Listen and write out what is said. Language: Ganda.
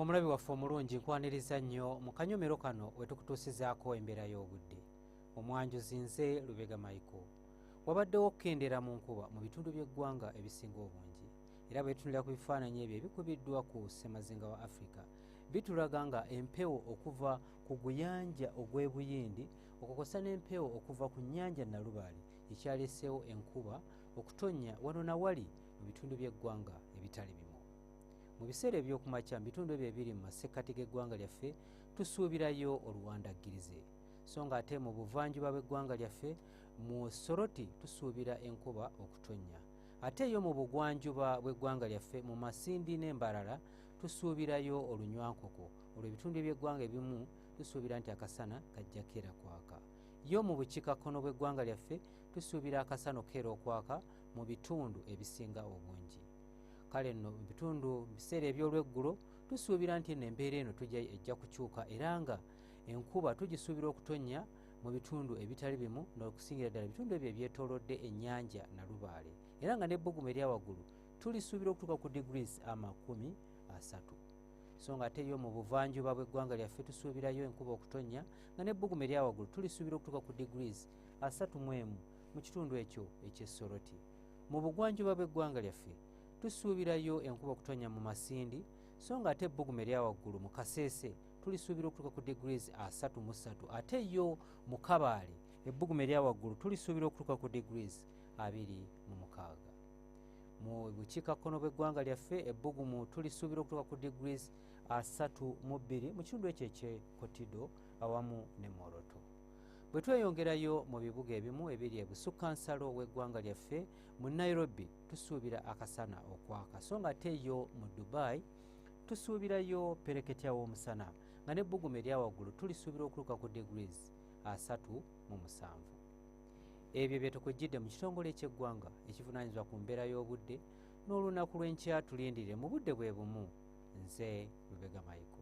omulabi waffe omulungi nkwaniriza nnyo mu kanyomero kano wetukutuusizaako embeera y'obudde omwanjuzi nze lubega maiko wabaddewo okukendera mu nkuba mu bitundu by'eggwanga ebisinga obungi era bwetunulira ku bifaananyi ebyo ebikubiddwa ku ssemazinga wa afirika bitulaga nga empewo okuva ku guyanja ogw'ebuyindi okukosa n'empewo okuva ku nnyanja nalubaali ekyaleeseewo enkuba okutonnya wano na wali mu bitundu by'eggwanga ebitali bimu mu biseera ebyokumakya mu bitundu ebyo ebiri mu masekkati g'eggwanga lyaffe tusuubirayo oluwandaggirize so nga ate mu buvanjuba bw'eggwanga lyaffe mu soroti tusuubira enkuba okutonnya ate yo mu bugwanjuba bw'eggwanga lyaffe mu masindi n'embalala tusuubirayo olunywankoko olwo ebitundu eby'eggwanga ebimu tusuubira nti akasana kajja keera kwaka yo mu bukikakkono bw'eggwanga lyaffe tusuubira akasana okukeera okwaka mu bitundu ebisinga obungi kale nno mu bitundu mu biseera eby'olweggulo tusuubira nti nno embeera eno tujja ejja kukyuka era nga enkuba tugisuubira okutonnya mu bitundu ebitali bimu n'okusingira ddala ebitundu ebyo ebyetoolodde ennyanja nalubaale era nga n'ebbugumu eryawaggulu tulisuubira okutuuka ku degrees amakumi asatu so nga ate yo mu buvanjuba bw'eggwanga lyaffe tusuubirayo enkuba okutonnya nga n'ebbugumu eryawaggulu tulisuubira okutuuka ku degrees asatu mu emu mu kitundu ekyo eky'essoroti mu bugwanjuba bw'eggwanga lyaffe tusuubirayo enkuba okutonya mu masindi so nga ate ebbugumu eryawaggulu mu kaseese tulisuubira okutuuka ku degrees asatu mu ssatu ate yo mu kabaale ebbugumu eryawaggulu tulisuubira okutuuka ku degrees abiri mu mukaaga mu bukiikakkono bw'eggwanga lyaffe ebbugumu tulisuubira okutuuka ku degrees asatu mu bbiri mu kitundu ekyo ekyekotido awamu ne moroto bwe tweyongerayo mu bibuga ebimu ebiri ebusukka nsalo w'eggwanga lyaffe mu nairobi tusuubira akasana okwaka so nga ate yo mu dubai tusuubirayo pereketya w'omusana nga n'ebbugumu eryawaggulu tulisuubira okuluka ku degrees asatu mu musanvu ebyo byetukujjidde mu kitongole ekyeggwanga ekivunanyizibwa ku mbeera y'obudde n'olunaku lw'enkya tulindirire mu budde bwe bumu nze lubega mayiko